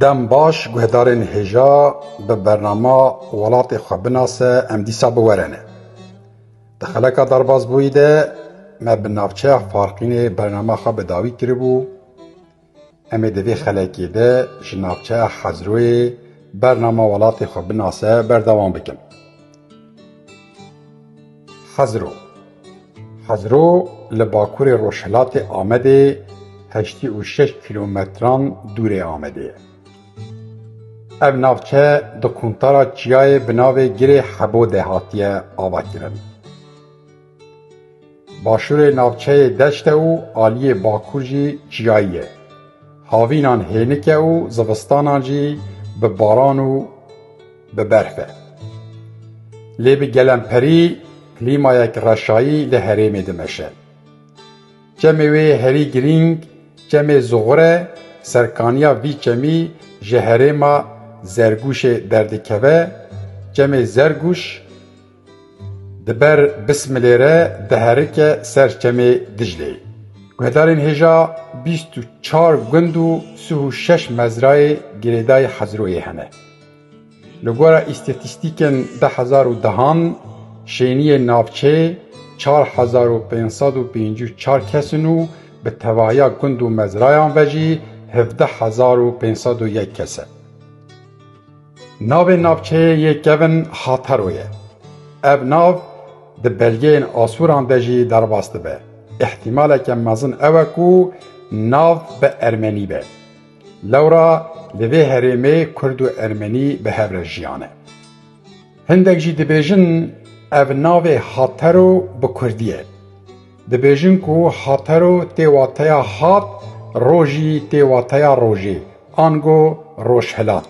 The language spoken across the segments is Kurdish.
Dem baş guhdarên hêja bi bernama Welatê xwe binase em dîsa biwerene. Di xeleka derbasbûyî de me bi navçeya Farqînê bernama xwe bi dawî kiribû, Em ê di vê xelekê de ji navçeya Xezroyê bernama welatê xwe binase berdewam bikin. Xezro Xezro li bakurê rojhilatê Amedê heştî û şeş kîlometran dûrê Amedê ye. Ev navçe di quntara çiyayê bi navê Girê Hebo de hatiye avakirin. Başûrê navçeyê deşt e û aliyê bakur jî çiyayî ye. Havînan hênik e û zivistanan jî bi baran û bi berf e. Lê bi gelemperî klîmayek reşayî li herêmê dimeşe. Çemê wê herî girîng, çemê zuxur e, serkaniya vî çemî ji herêma Zergûşê derdikeve, çemê Zergûş, Di ber Bismilê re diherike ser çemê Diclê. Guhdarên hêja bîst û çar gund û sih û şeş mezrayê girêdayî Hezroyê hene. Li gora îstatîstîkên deh hezar û dehan şêniyê navçê çar hezar û pênc sed û pêncî û çar kes in û bi tevahiya gund û mezrayan ve jî hevdeh hezar û pênc sed û yek kes e. Navê navçeyê yê kevin Hataro ye. Ev nav di belgeyên Asûran de jî derbas dibe. Îhtîmaleke mezin ew e ku nav bi ermenî be. Lewra li vê herêmê kurd û ermenî bi hev re jiyane. Hindek jî dibêjin ev navê Hataro bi kurdî ye. Dibêjin ku hatero tê wateya hat, rojî tê wateya rojê, ango rojhilat.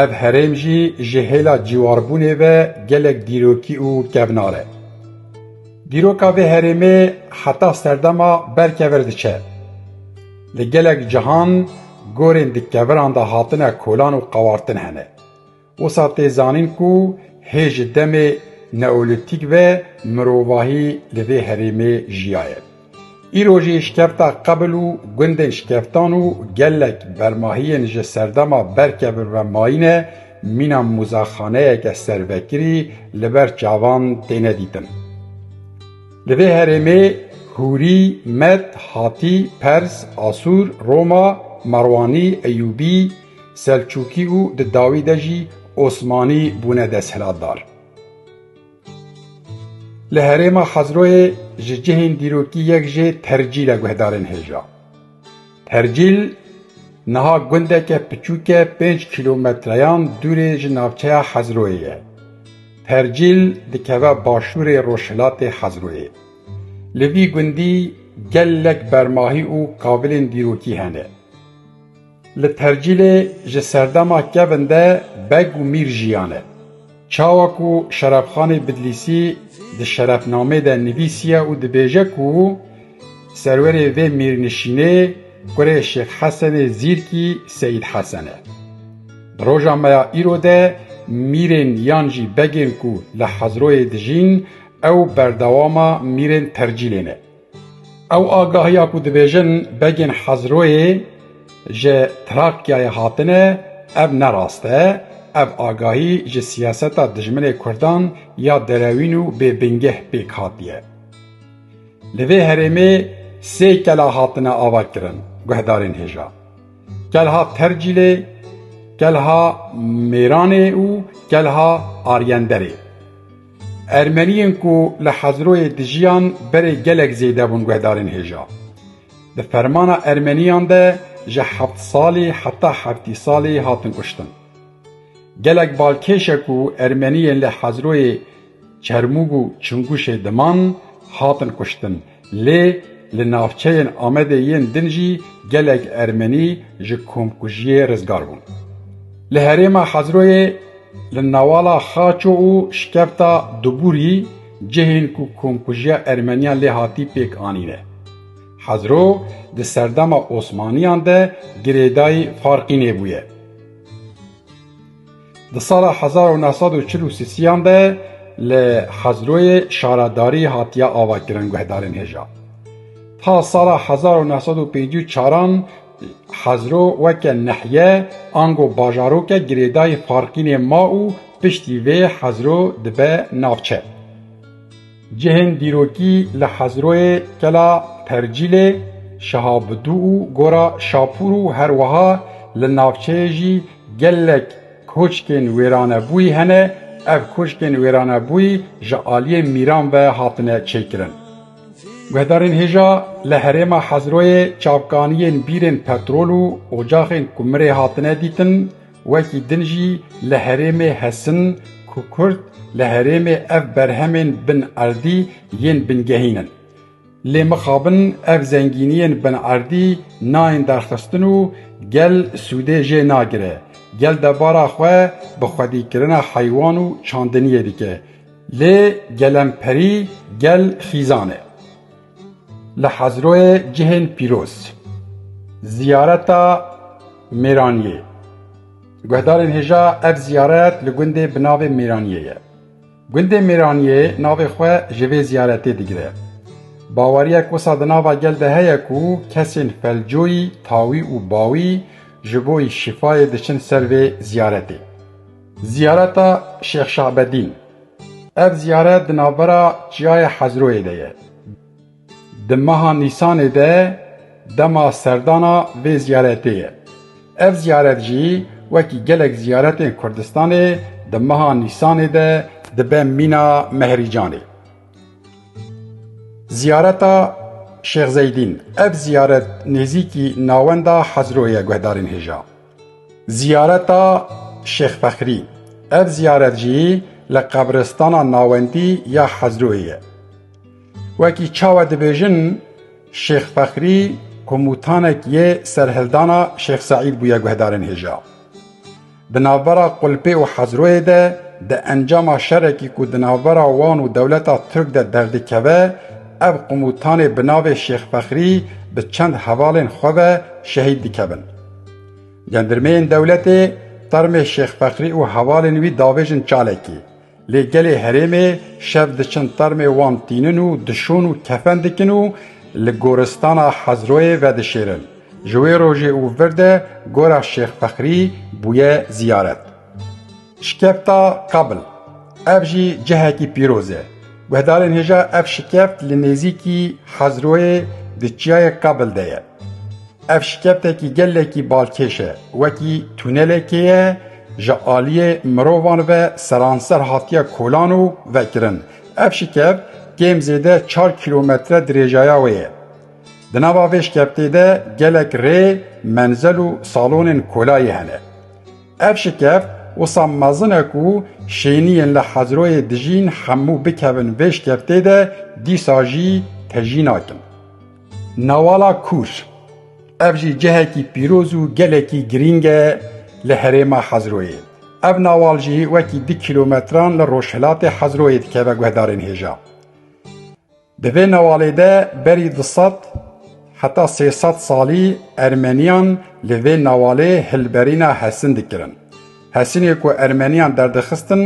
Ev herêm jî ji hêla cîwarbûnê ve gelek dîrokî û kevnar e. Dîroka vê herêmê heta serdema ber kevir diçe. Li gelek cihan gorên di keviran de hatine kolan û qewartin hene. Wisa tê zanîn ku hê ji demê neolîtîk ve mirovahî li vê herêmê jiyaye. Îro jî şikefta qebl û gundên şikeftan û gelek bermahiyên ji serdema berkevir ve mayîne, mîna mûzexaneyeke servekirî li ber çavan têne dîtin. Li vê herêmê Hûrî, Med, Hatî, Pers, Asûr, Roma, Merwanî, Eyûbî, Selçûkî û di dawî de jî Osmanî bûne desthilatdar. Li herêma Xezroyê ji cihên dîrokî yek jê Tercîl e guhdarên hêja. Tercîl niha gundeke piçûk e pênc kîlometreyan dûrê ji navçeya Xezroyê ye. Tercîl dikeve başûrê rojhilatê Xezroyê. Li vî gundî gelek bermahî û kavilên dîrokî hene. Li Tercîlê ji serdema kevin de beg û mîr jiyane. Çawa ku Şerefxanê Bidlîsî di şerefnamê de nivîsiye û dibêje ku serwerê vê mîrnişînê kurê Şêx Hesenê Zîrkî Seyîd Hesen e. Di roja me ya îro de mîrên yan jî begên ku li Hezroyê dijîn ew berdewama mîrên Tercîlê ne. Ew agahiya ku dibêjin begên Hezroyê ji Trakyayê hatine ev ne rast e, ev agahî ji siyaseta dijminê Kurdan ya derewîn û bêbingeh pêk hatiye. Li vê herêmê sê kela hatine avakirin guhdarên hêja. Kelha Tercîlê, kelha Mêranê û kelha Aryenderê. Ermeniyên ku li Hezroyê dijiyan berê gelek zêde bûn guhdarên hêja. Di fermana Ermeniyan de ji heft salî heta heftî salî hatin kuştin. Gelek balkêş e ku Ermeniyên li Hezroyê Çermûg û Çinguşê diman hatin kuştin. Lê li navçeyên Amedê yên din jî gelek Ermenî ji komkujiyê rizgar bûn. Li herêma Hezroyê li newala Xaço û Şkefta Dubûrî cihên ku komkujiya Ermeniyan lê hatî pêk anîne. Hezro di serdema Osmaniyan de girêdayî farqî nêbûye. Di sala hezar û neh sed û çil û sisiyan de li Hezroyê şaradarî hatiye avakirin guhdarên hêja. Ta sala hezar û neh sed û pêncî û çaran Hezro weke nehiye ango bajaroke girêdayî Farqînê ma û piştî vê Hezro dibe navçe. Cihên dîrokî li Hezroyê, Kela Percîlê, Şehabidû û Gora Şapûr û her wiha li navçeyê jî gelek koçkên wêranebûyî hene, ev koçkên wêranebûyî ji aliyê mîran ve hatine çêkirin. Guhdarên hêja li herêma Hezroyê çavkaniyên bîrên petrol û ocaxên kumirê hatine dîtin, Wekî din jî li herêmê hesin ku Kurd li herêmê ev berhemên bin erdî yên bingehîn in. Lê mixabin ev zengîniyên bin erdî nayên derxistin û gel sûdê jê nagire. Gel debara xwe bi xwedîkirina heywan û çandiniyê dike. Lê gelemperî gel xîzan e. Li Hezroyê cihên pîroz, ziyareta Mêraniyê. Guhdarên hêja ev ziyaret li gundê bi navê Mêraniyê ye. Gundê Mêraniyê navê xwe ji vê ziyaretê digire. Baweriyek wisa di nava gel de heye ku kesên felcoyî, tawî û bawî ji bo şîfayê diçin ser vê ziyaretê. Ziyareta Şêx Şabedîn. Ev ziyaret di navbera Çiyayê Hezroyê de ye. Di meha Nîsanê de dema serdana vê ziyaretê ye. Ev ziyaret jî wekî gelek ziyaretên Kurdistanê di meha Nîsanê de dibe mîna Mehrîcanê. Ziyareta Şêx Zeydîn, Ev ziyaret nêzîkî navenda Hezroyê ye guhdarên hêja. Ziyareta Şêx Fexrî, ev ziyaret jî li qebiristana navendî ya Hezrûyê ye. Wekî çawa dibêjin Şêx Fexrî komûtanek yê serhildana Şêx Seîd bûye guhdarên hêja. Di navbera Qulpê û Hezrûyê de di encama şerekî ku di navbera wan û dewleta Tirk de derdikeve, ev komûtanê bi navê Şêx Fexrî bi çend hevalên xwe ve şehîd dikevin. Gendirmeyên dewletê termê Şêx Fekrî û hevalên wî davêjin çalekî. Lê gelê herêmê şev diçin termê wan tînin û dişon û kefen dikin û li goristana Hezroyê vedişêrin. Ji wê rojê û vir de gora Şêx Fekrî bûye ziyaret. Şikefta Kabl, ev jî cihekî pîroz e. Guhdarên hêja ev şikeft li nêzîkî Hazroyê di çiyayê Kabl de ye. Ev şikeftekî gelekî balkêş e, wekî tunelekê ye, ji aliyê mirovan ve seranser hatiye kolan û vekirin. Ev şikeft kêm zêde çar kîlometre dirêjaya wê ye. Di nava vê şikeftê de gelek rê, menzel û salonên kolayî hene. Ev şikeft wisa mezin e ku şêniyên li Hezroyê dijîn hemû bikevin vê şikeftê de dîsa jî te jî nakin. Newala Kûr, Ev jî cihekî pîroz û gelekî girîng e li herêma Hezroyê. Ev newal jî wekî du kîlometran li rojhilatê Hezroyê dikeve guhdarên hêja. Di vê newalê de berî du sed heta sê sed salî Ermeniyan li vê newalê hilberîna Hesin dikirin. Hesinê ku Ermeniyan derdixistin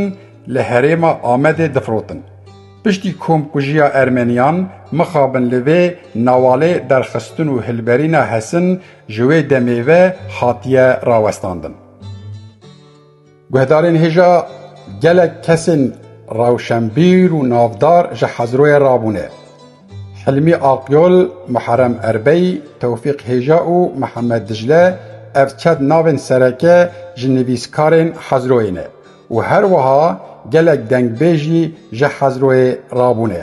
li herêma Amedê difirotin. Piştî komkujiya Ermeniyan mixabin li vê newalê derxistin û hilberîna Hesin ji wê demê ve hatiye rawestandin. Guhdarên hêja gelek kesên rewşenbîr û navdar ji Hezroyê rabûne. Hilmî Aqyol, Muherem Erbey, Tewfîq Hêja û Mihemed Dicle ev çet navên sereke ji nivîskarên Hezroyê ne û her wiha gelek dengbêjî ji Hezroyê rabûne.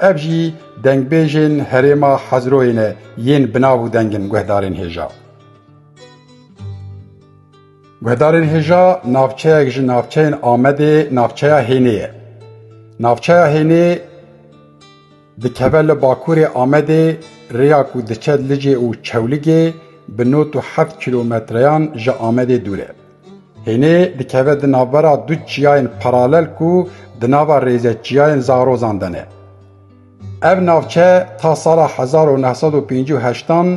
Ev jî dengbêjên herêma Hezroyê ne yên bi nav û deng in Guhdarên Hêja. Guhdarên Hêja navçeyek ji navçeyên Amedê navçeya Hênê ye. Navçeya Hênê dikeve li bakurê Amedê rêya ku diçe Licê û Çewligê bi not û heft kîlometreyan ji Amedê dûr e. Hênê dikeve di navbera du çiyayên paralel ku di nava rêze çiyayên Zarozan de ne. Ev navçe ta sala hezar û neh sed û pêncî û heştan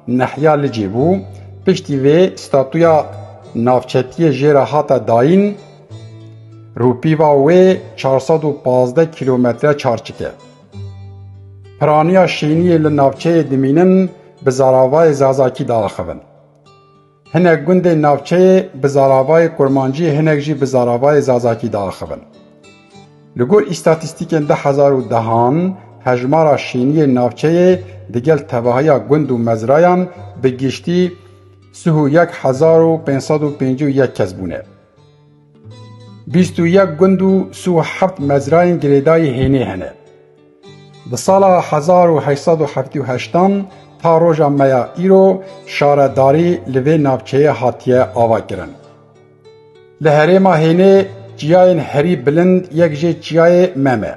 nehiya licê bû, piştî vê statuya navçetiyê jê re hate dayîn, rûpîva wê çar sed û pazdeh kîlometre çarçik e. Piraniya şêniyên li navçeyê dimînin bi zaravayê zazakî diaxivin. Hinek gundên navçeyê bi zaravayê kurmancî hinek jî bi zaravayê zazakî diaxivin. Li gor îstatîstîkên du hezar û dehan hejmara şîniyên navçeyê digel tevahiya gund û mezrayan bi giştî sih û yek hezar û pênc sed û pêncî û yek kes bûne. Bîst û yek gund û sih û heft mezrayên girêdayî hênê hene. Di sala hezar û heşt sed û heftê û heştan ta roja me ya îro şaredarî li vê navçeyê hatiye avakirin. Li herêma hênê çiyayên herî bilind yek jê çiyayê Mem e.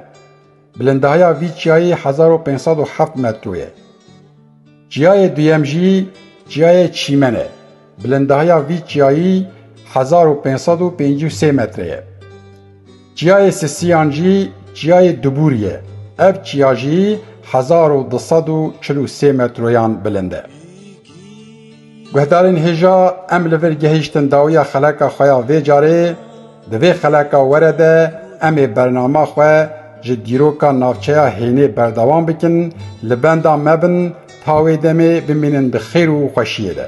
Bilindahiya vî çiyayê hezar û pênc sed û heft metro ye. Çiyayê duyem jî Çiyayê Çîmen e. Bilindahiya vî çiyayî hezar û pênc sed û pêncî û sê metre ye. Çiyayê Sisiyan jî Çiyayê Dubûrî ye. Ev çiya jî hezar û du sed û çil û sê metroyan bilind e. Guhdarên hêja em li vir gehîştin dawiya xeleka xwe ya vê carê, di vê xeleka were de em ê bernama xwe ji dîroka navçeya hênê berdewam bikin, li benda me bin ta wê demê bimînin bi xêr û xweşiyê de.